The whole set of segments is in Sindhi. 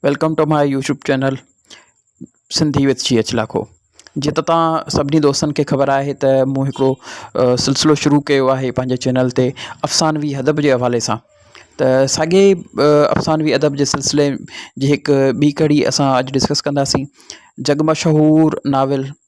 Welcome to my YouTube channel Sindhi with شي اچ لاکو جي ته تان سڀني دوستن کي خبر آهي ته مون هڪڙو سلسلو شروع ڪيو آهي پنهنجي چينل تي افسانوي ادب جي حوالي سان ته ساڳي افسانوي ادب جي سلسلي جي هڪ ٻي ڪڙي اسان اڄ ڊسڪس ڪنداسين جڳ مشهور ناول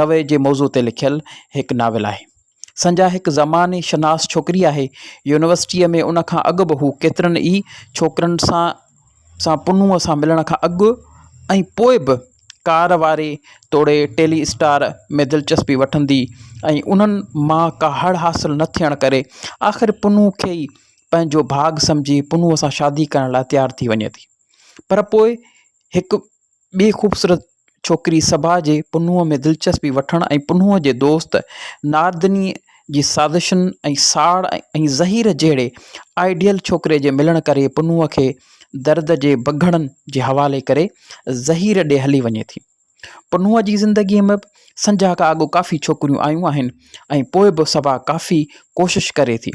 رويي جي موضوع تي لکيل هڪ ناول آهي. سنجا هڪ زماني شناس ڇوڪري آهي. يونيورسٽيء ۾ ان کان اڳ به هو ڪيترن ئي ڇوڪرن سان سان پنهونء سان ملڻ کان اڳ ۽ پوء به ڪار واري توڙي ٽيلي اسٽار ۾ دلچسپي وٺندي ۽ انهن مان ڪا هڙ حاصل نه ٿيڻ ڪري آخر پنهون کي ئي پنهنجو ڀاڳ سمجهي پنهونء سان شادي ڪرڻ لاء تيار ٿي وڃي ٿي پر پوء هڪ ٻي خوبصورت ڇوڪري صبا جي پنهونء ۾ دلچسپي وٺڻ ۽ پنهونء جي دوست ناردنيء جي سازشن ۽ ساڙ ۽ زهير جهڙي آئيڊيل ڇوڪري جي ملڻ ڪري پنهونء کي درد جي بگهڙن جي حوالي ڪري زهير ڏي هلي وڃي ٿي. پنهونء جي زندگيء ۾ سنجهه کان اڳ ڪافي ڇوڪريون آيون آهن ۽ پوء به صبا ڪافي ڪوشش ڪري ٿي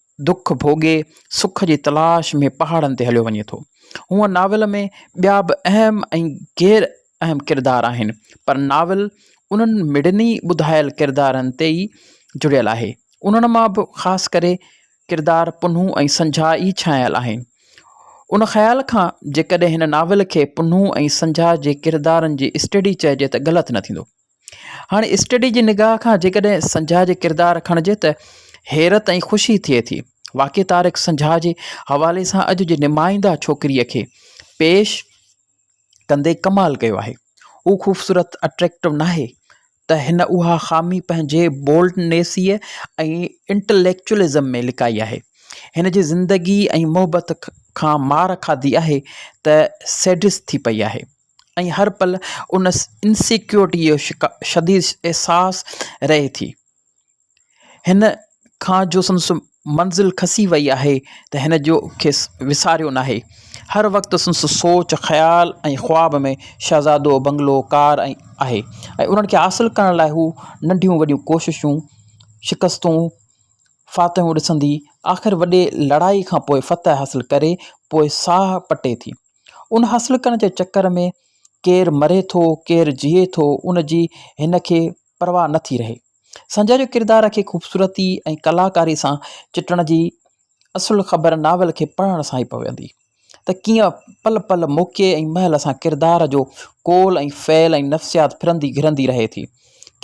دک ڀوڳي سک جي تلاش ۾ پهاڙن تي هليو وڃي ٿو. هونء ناول ۾ ٻيا به اهم ۽ غير اهم ڪردار آهن، پر ناول انهن مڙني ٻڌايل ڪردارن تي ئي جڙيل آهي. انهن مان به خاص ڪري ڪردار پنهون ۽ سنجهاء ئي ڇانيل آهن. ان خيال کان جيڪڏهن هن ناول کي پنهون ۽ سنجهاء جي ڪردارن جي اسٽڊي چئجي ته غلط نه ٿيندو. هاڻ اسٽڊي جي نگاهه کان جيڪڏهن سنجهاء جي ڪردار کڻجي ته حيرت ۽ خوشي ٿئي ٿي. واقعي طارق سنجهاء جي حوالي سان اڄ جي نمائنده ڇوڪريء کي پيش ڪندي ڪمال ڪيو آهي. هو خوبصورت، اٽريڪٽو، ناهي ته هن اها خامي پنهنجي بولڊنيسيء ۽ انٽليڪچوئلزم ۾ لڪائي آهي. هن جي زندگيء ۽ محبت کان مار کاڌي آهي ته سيڊسٽ ٿي پئي آهي. ۽ هر پل ان انسيڪيورٽيء جو شديد احساس رهي ٿي. هن کان جو سندس منزل کسي وئي آهي ته هن جو کيس وساريو ناهي. هر وقت سندس سوچ، خيال ۽ خواب ۾ شهزادو، بنگلو، ڪار آهي ۽ انهن کي حاصل ڪرڻ لاء هو ننڍيون وڏيون ڪوششون، شڪستون، فاتحون ڏسندي آخر وڏي لڙائيء کان پوء فتح حاصل ڪري پوء ساهه پٽي ٿي. ان حاصل ڪرڻ جي چڪر ۾ ڪير مري ٿو ڪير جيئي ٿو ان جي هن کي پرواهه نه ٿي رهي. سنجئه جو ڪردار کي خوبصورتي ۽ ڪلاڪاري سان چٽڻ جي اصل خبر ناول کي پڙهڻ سان ئي پوندي ته ڪيئن پل پل موقعي ۽ مهل سان ڪردار جو قول ۽ فعل ۽ نفسيات ڦرندي گهرندي رهي ٿي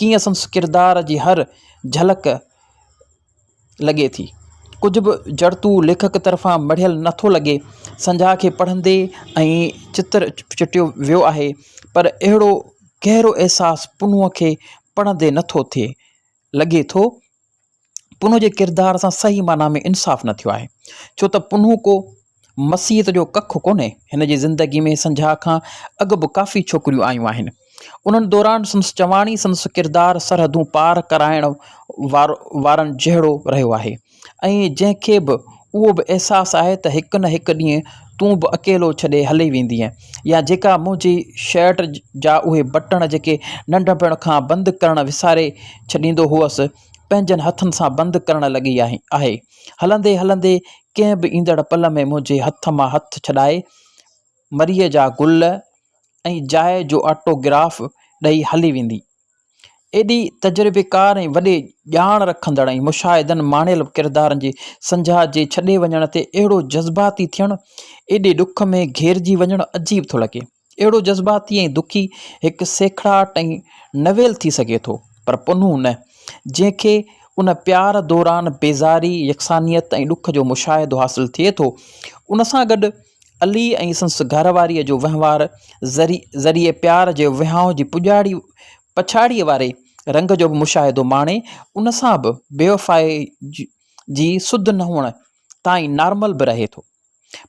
ڪيئن سندس ڪردار جي هر جهلڪ لڳي ٿي. ڪجهه به جڙتو ليکڪ طرفان مڙهيل نه ٿو لڳي. سنجهاء کي پڙهندي ائين چتر چٽيو ويو آهي، پر اهڙو گهرو احساس پنهونء کي پڙهندي نه ٿو ٿئي. لڳي ٿو، پنهونء جي ڪردار سان صحيح معنيٰ ۾ انصاف نه ٿيو آهي، ڇو ته پنهون ڪو. مسيحيت جو ڪک ڪونهي، هن جي زندگي ۾ سنجهاء کان اڳ به ڪافي ڇوڪريون آيون آهن. انهن دوران سندس چواڻي سندس ڪردار سرحدون پار ڪرائڻ وارن جهڙو رهيو آهي ۽ جنهن کي به اهو به احساس آهي ته هڪ نه هڪ ڏينهن تون به اڪيلو ڇڏي هلي ويندينء يا جيڪا منهنجي شرٽ جا اهي بٽڻ جيڪي ننڍپڻ کان بند ڪرڻ وساري ڇڏيندو هئس پنهنجن هٿن سان بند ڪرڻ لڳي آهي. هلندي هلندي ڪنهن به ايندڙ پل ۾ منهنجي هٿ مان هٿ ڇڏائي مريء جا گل ۽ جاء جو آٽو گراف ڏئي هلي ويندي. ايڏي تجربيڪار ۽ وڏي ڄاڻ رکندڙ ۽ مشاهدن ماڻيل ڪردارن جي سنجها جي ڇڏي وڃڻ تي اهڙو جذباتي ٿيڻ، ايڏي ڏک ۾ گهيرجي وڃڻ عجيب ٿو لڳي. اهڙو جذباتي ۽ دکي هڪ سيکڙاٽ ۽ نويل ٿي سگهي ٿو، پر پنهون نه، جنهن کي ان پيار دوران بيزاري، يڪسانيت ۽ ڏک جو مشاهدو حاصل ٿئي ٿو. ان سان گڏ علي ۽ سندس گهر واريء جو وهنوار ذريعي پيار جي وهانء جي پڄاڙي پڇاڙيء واري رنگ جو به مشاهدو ماڻي، ان سان به بيوفائيء جي سڌ نه هئڻ تائين نارمل به رهي ٿو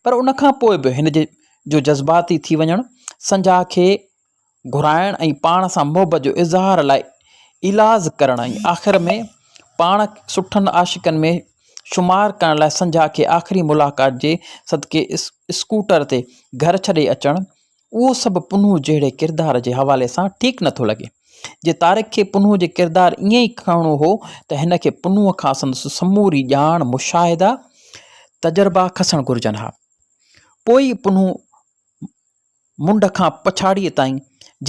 پر ان کان پوء به هن جي جو جذباتي ٿي وڃڻ سنجاء کي گهرائڻ ۽ پاڻ سان محبت جو اظهار لاء ايلاز ڪرڻ ۽ آخر ۾ پاڻ سٺن عاشقن ۾ شمار ڪرڻ لاء سنجاء کي آخري ملاقات جي صدقي اسڪوٽر تي گهر ڇڏي اچڻ اهو سڀ پنهون جهڙي ڪردار جي حوالي سان ٺيڪ نه ٿو لڳي. جي طارق کي پنهون جي ڪردار ائين ئي کڻڻو هو ته هن کي پنهون کان سندس سموري ڄاڻ، مشاهدا، تجربا کسڻ گهرجن ها. پوء ئي پنهون منڍ کان پڇاڙيء تائين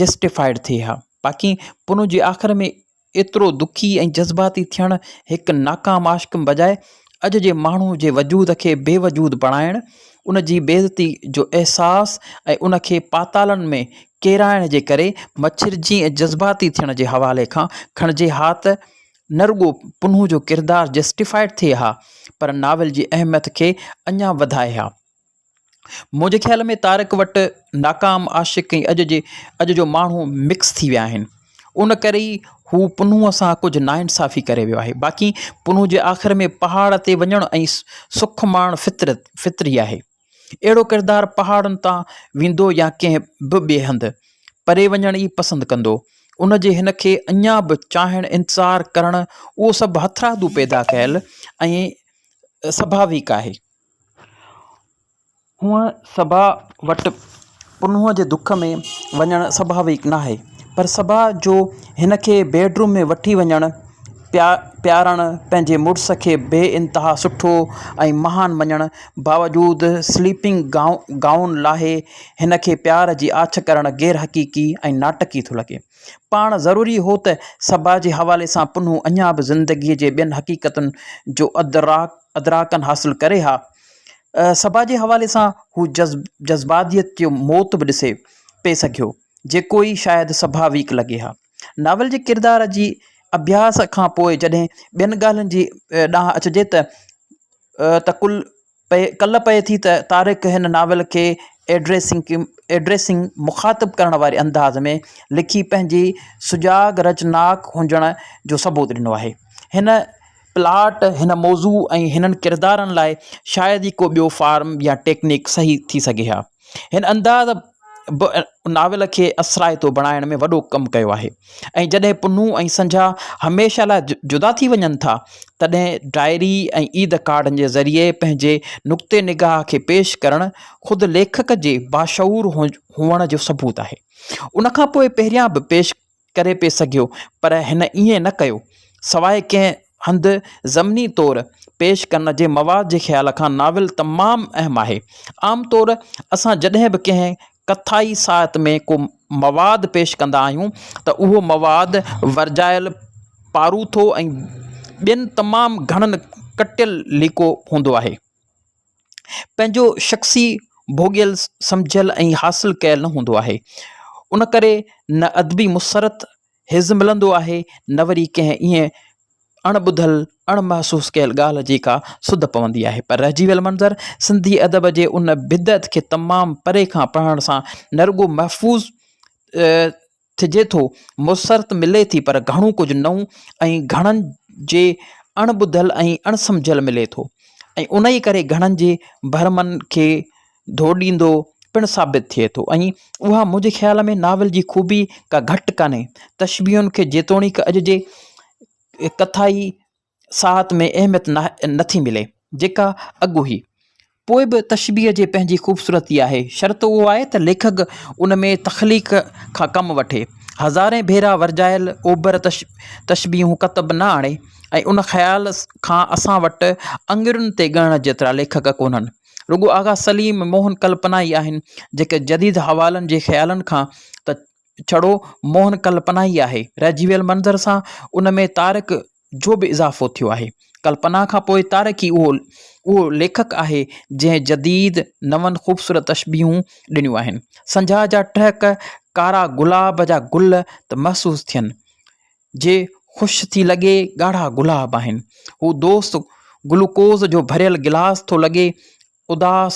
جسٽيفائيڊ ٿئي ها. باقي پنهون جي آخر ۾ ايترو دکي ۽ جذباتي ٿيڻ هڪ ناڪام عاشق بجاء اڄ جي ماڻهو جي وجود کي بي وجود بڻائڻ، ان جي بي عزتي جو احساس ۽ ان کي پاتالن ۾ ڪيرائڻ جي ڪري مڇرجي ۽ جذباتي ٿيڻ جي حوالي کان کڻجي ها ته نه رڳو پنهون جو ڪردار جسٽيفائيڊ ٿئي ها پر ناول جي اهميت کي اڃا وڌائي ها. منهنجي خيال ۾ تارڪ وٽ ناڪام عاشق ۽ اڄ جي اڄ جو ماڻهو مڪس ٿي ويا آهن ان ڪري ئي هو پنهونء سان ڪجهه ناانصافي ڪري ويو آهي باقي پنهونء جي آخر ۾ پهاڙ تي وڃڻ ۽ سک ماڻڻ فطرت فطري آهي اهڙو ڪردار پهاڙن تان ويندو يا ڪنهن به ٻئي هنڌ پري وڃڻ ئي پسند ڪندو ان جي هن کي اڃا به چاهڻ انتظار ڪرڻ اهو سڀ هٿرادو پيدا ڪيل ۽ سڀاويڪ آهي. هونء صبا وٽ پنهونء جي دک ۾ وڃڻ سڀاويڪ ناهي پر صبا جو هن کي بيڊ روم ۾ وٺي وڃڻ پيا پيارڻ پنهنجي مڙس کي بي انتها سٺو ۽ مهان مڃڻ باوجود سليپنگ گائو گائون لاهي هن کي پيار جي آڇ ڪرڻ غير حقيقي ۽ ناٽڪي ٿو لڳي پاڻ ضروري هو ته صبا جي حوالي سان پنهون اڃا به زندگيء جي ٻين حقيقتن جو ادراڪ ادراڪن حاصل ڪري ها. سڀا جي حوالي سان هو جذباتيت جو موت به ڏسي پئي سگهيو، جيڪو ئي شايد سڀاويڪ لڳي ها. ناول جي ڪردار جي اڀياس کان پوء جڏهن ٻين ڳالهين جي ڏانهن اچجي ته ته ڪل ڪل پئي ٿي ته طارق هن ناول کي ايڊريسنگ، مخاطب ڪرڻ واري انداز ۾ لکي پنهنجي سجاڳ رچناڪ هجڻ جو ثبوت ڏنو آهي. هن پلاٽ، هن موضوع ۽ هنن ڪردارن لاء شايد ئي ڪو ٻيو فارم يا ٽيڪنڪ صحيح ٿي سگهي ها. هن انداز به ناول کي اثرائتو بڻائڻ ۾ وڏو ڪم ڪيو آهي ۽ جڏهن پنهون ۽ سنجها هميشه لاء جدا ٿي وڃن ٿا، تڏهن ڊائري ۽ عيد ڪارڊن جي ذريعي پنهنجي نقطي نگاهه کي پيش ڪرڻ خود ليکڪ جي باشعور هئڻ جو ثبوت آهي. ان کان پوء پهريان به پيش ڪري پئي سگهيو پر هن ائين نه ڪيو سواء ڪنهن هنڌ ضمني طور پيش ڪرڻ جي مواد جي خيال کان ناول تمام اهم آهي. عام طور اسان جڏهن به ڪنهن ڪٿائي ساهت ۾ ڪو مواد پيش ڪندا آهيون ته اهو مواد ورجايل پاروٿو ۽ ٻين تمام گهڻن ڪٽيل ليڪو هوندو آهي. پنهنجو شخصي ڀوڳيل، سمجهيل ۽ حاصل ڪيل نه هوندو آهي. ان ڪري نه ادبي مسرت حس ملندو آهي نه وري ڪنهن ايئن اڻ ٻڌل، اڻ محسوس ڪيل ڳالهه جي ڪا سڌ پوندي آهي. پر رهجي ويل منظر سنڌي ادب جي ان بدعت کي تمام پري کان پڙهڻ سان نه رڳو محفوظ ٿجي ٿو، موثر ته ملي ٿي پر گهڻو ڪجهه نئون ۽ گهڻن جي اڻ ٻڌل ۽ اڻ سمجهيل ملي ٿو ۽ انهيء ڪري گهڻن جي برهمن کي ڌوڏيندو پڻ ثابت ٿئي ٿو ۽ اها منهنجي خيال ۾ ناول جي خوبي ڪا گهٽ ڪانهي. تشبيهن کي جيتوڻيڪ اڄ جي ڪٿائي ساعت ۾ اهميت نه ٿي ملي جيڪا اڳ هئي. پوء به تشبيهه جي پنهنجي خوبصورتي آهي، شرط اهو آهي ته ليکڪ ان ۾ تخليق کان ڪم وٺي. هزارين ڀيرا ورجايل اوڀر تشبيهون ڪتب نه آڻي ۽ ان خيال کان اسان وٽ اڱرين تي ڳڻڻ جيترا ليکڪ ڪونهن. رڳو آغا سليم، موهن ڪلپنا ئي آهن جيڪي جديد حوالن جي خيالن کان ته ڇڙو موهن ڪلپنا ئي آهي. رهجي ويل منظر سان ان ۾ تارڪ جو به اضافو ٿيو آهي. ڪلپنا کان پوء تارڪ ئي اهو اهو ليکڪ آهي جنهن جديد نون خوبصورت تشبيهون ڏنيون آهن. سنجهاء جا ٽهڪ ڪارا گلاب جا گل ته محسوس ٿين. جي خوش ٿي لڳي ڳاڙها گلاب آهن. هو دوست گلوڪوز جو ڀريل گلاس ٿو لڳي اداس،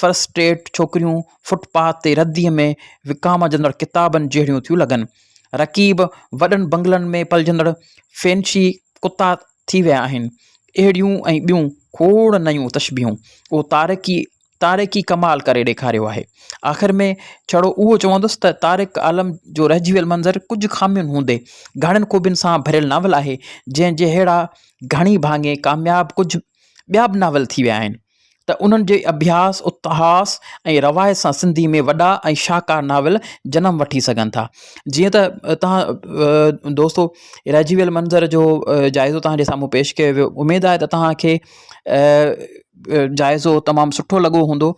فرسٽريٽ ڇوڪريون فٽ پاٿ تي رديء ۾ وڪامجندڙ ڪتابن جهڙيون ٿيون لڳن. رقيب وڏن بنگلن ۾ پلجندڙ فينشي ڪتا ٿي ويا آهن. اهڙيون ۽ ٻيون کوڙ نيون تشبيهون اهو طارق ئي طارق ئي ڪمال ڪري ڏيکاريو آهي. آخر ۾ ڇڙو اهو چوندس ته طارق عالم جو رهجي ويل منظر ڪجهه خامين هوندي گهڻين خوبين سان ڀريل ناول آهي، جنهن جهڙا گهڻي ڀاڱي ڪامياب ڪجهه ٻيا به ناول ٿي ويا آهن ته انهن جي اڀياس، اتهاس ۽ روايت سان سنڌي ۾ وڏا ۽ شاهڪار ناول جنم وٺي سگهن ٿا. جيئن ته توهان دوستو رهجي ويل منظر جو جائزو توهان جي سامهون پيش ڪيو ويو اميد آهي ته توهان کي جائزو تمام سٺو لڳو هوندو.